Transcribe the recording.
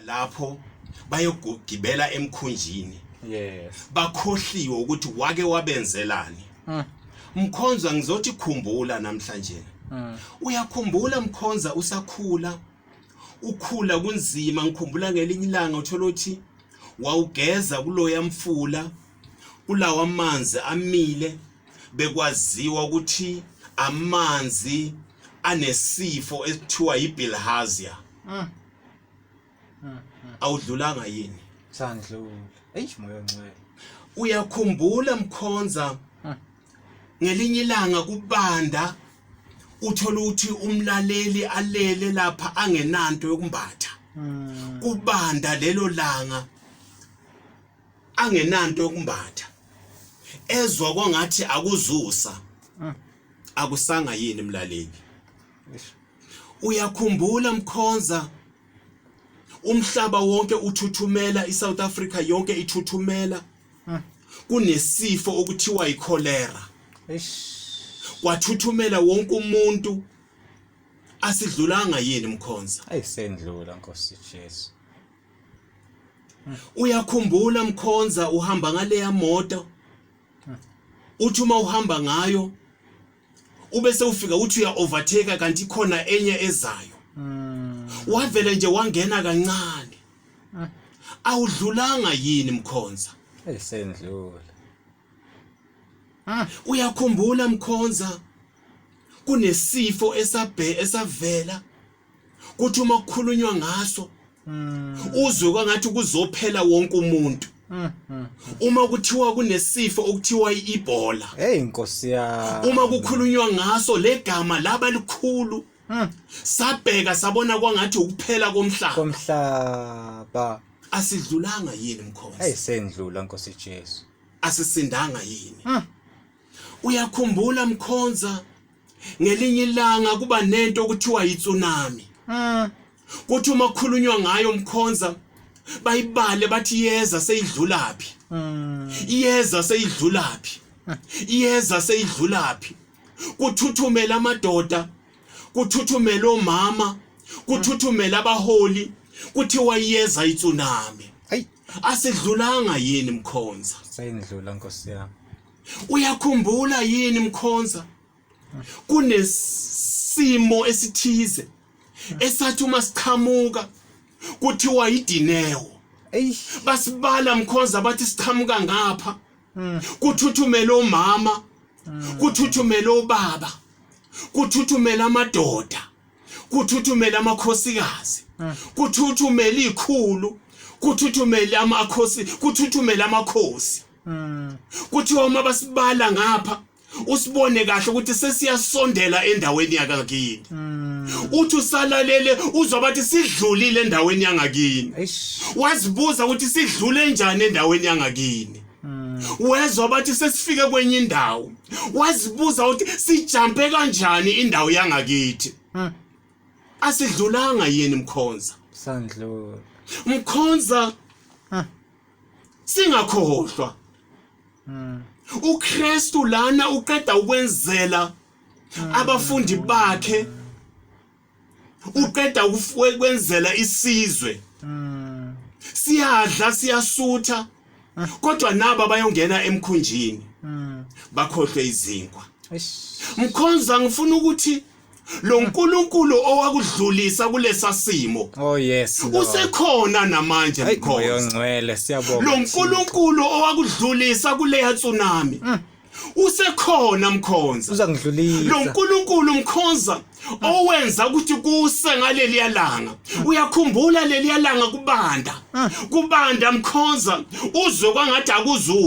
lapho bayogibela emkhunjini yes bakhohliwe ukuthi wake wabenzelani mm. mkhonza ngizothi khumbula namhlanje mm. uyakhumbula mkhonza usakhula ukhula kunzima ngikhumbula ngelinye ilanga uthola ukuthi wawugeza kuloya mfula kulawa amanzi amile bekwaziwa ukuthi amanzi anesifo esithiwa yibilharzia mm. awudlulanga yini sangidlula eish moya ongcwele uyakhumbula mkhonza ngelinye ilanga kubanda uthola ukuthi umlaleli alele lapha angenanto yokumbatha hmm. kubanda lelo langa angenanto yokumbatha ezwa kwangathi akuzusa hmm. akusanga yini mlaleli uyakhumbula mkhonza umhlaba wonke uthuthumela iSouth Africa yonke ithuthumela kunesifo okuthiwa icholera kwathuthumela wonke umuntu asidlulanga yini mkhonza ayisendlula nkosi Jesu uyakhumbula mkhonza uhamba ngaleya moto uthi uma uhamba ngayo ube sewufika uthi uya overtake kanti khona enye ezayo mm. wavele nje wangena kancane mm. awudlulanga yini mkhonza esendlula ah. uyakhumbula mkhonza kunesifo esabhe esavela kuthi uma kukhulunywa ngaso hmm. uzwe kwangathi kuzophela wonke umuntu hmm, hmm. uma kuthiwa kunesifo okuthiwa iIbola hey inkosi ya uma kukhulunywa ngaso legama laba likhulu sabheka sabona kwangathi ukuphela komhlaba komhlaba asidlulanga yini mkhosi hey sendlula nkosi Jesu asisindanga yini uyakhumbula mkhonza ngelinye ilanga kuba nento okuthiwa yitsunami mm. kuthi uma kukhulunywa ngayo mkhonza bayibale bathi iyeza seyidlulaphi mm. iyeza seyidlulaphi iyeza seyidlulaphi kuthuthumela amadoda kuthuthumela omama kuthuthumela abaholi kuthiwa iyeza itsunami asidlulanga yini mkhonza seyindlula nkosi yami uyakhumbula yini mkhonza kunesimo esithize esathi uma siqhamuka kuthiwa yidinewo basibala mkhonza bathi siqhamuka ngapha hmm. kuthuthumela omama hmm. kuthuthumela obaba kuthuthumela amadoda kuthuthumela amakhosikazi hmm. kuthuthumela ikhulu kuthuthumela amakhosi kuthuthumela amakhosi mm. kuthiwa uma basibala ngapha usibone kahle ukuthi sesiyasondela endaweni yakakini hmm. uthi usalalele uzwa bathi sidlulile endaweni yangakini wazibuza ukuthi sidlule njani endaweni yangakini hmm. wezwa bathi sesifike kwenye indawo wazibuza ukuthi sijampe kanjani indawo yangakithi hmm. asidlulanga yini mkhonza sandlula mkhonza singakhohlwa hmm. uKristu lana uqeda ukwenzela hmm. abafundi bakhe uqeda ukwenzela isizwe hmm. siyadla siyasutha kodwa nabo bayongena emkhunjini bakhohlwe izinkwa mkhonza ngifuna ukuthi lo nkulunkulu owakudlulisa kulesa simo oh yes Lord. usekhona namanje Hayi, mkhonza moya ongcwele siyabonga lo nkulunkulu owakudlulisa kuleya tsunami Mm. usekhona mkhonza lo uzangidlulisa nkulunkulu mkhonza owenza ukuthi kuse ngaleliya langa uyakhumbula leliya langa kubanda kubanda mkhonza uzwe kwangathi akuzuza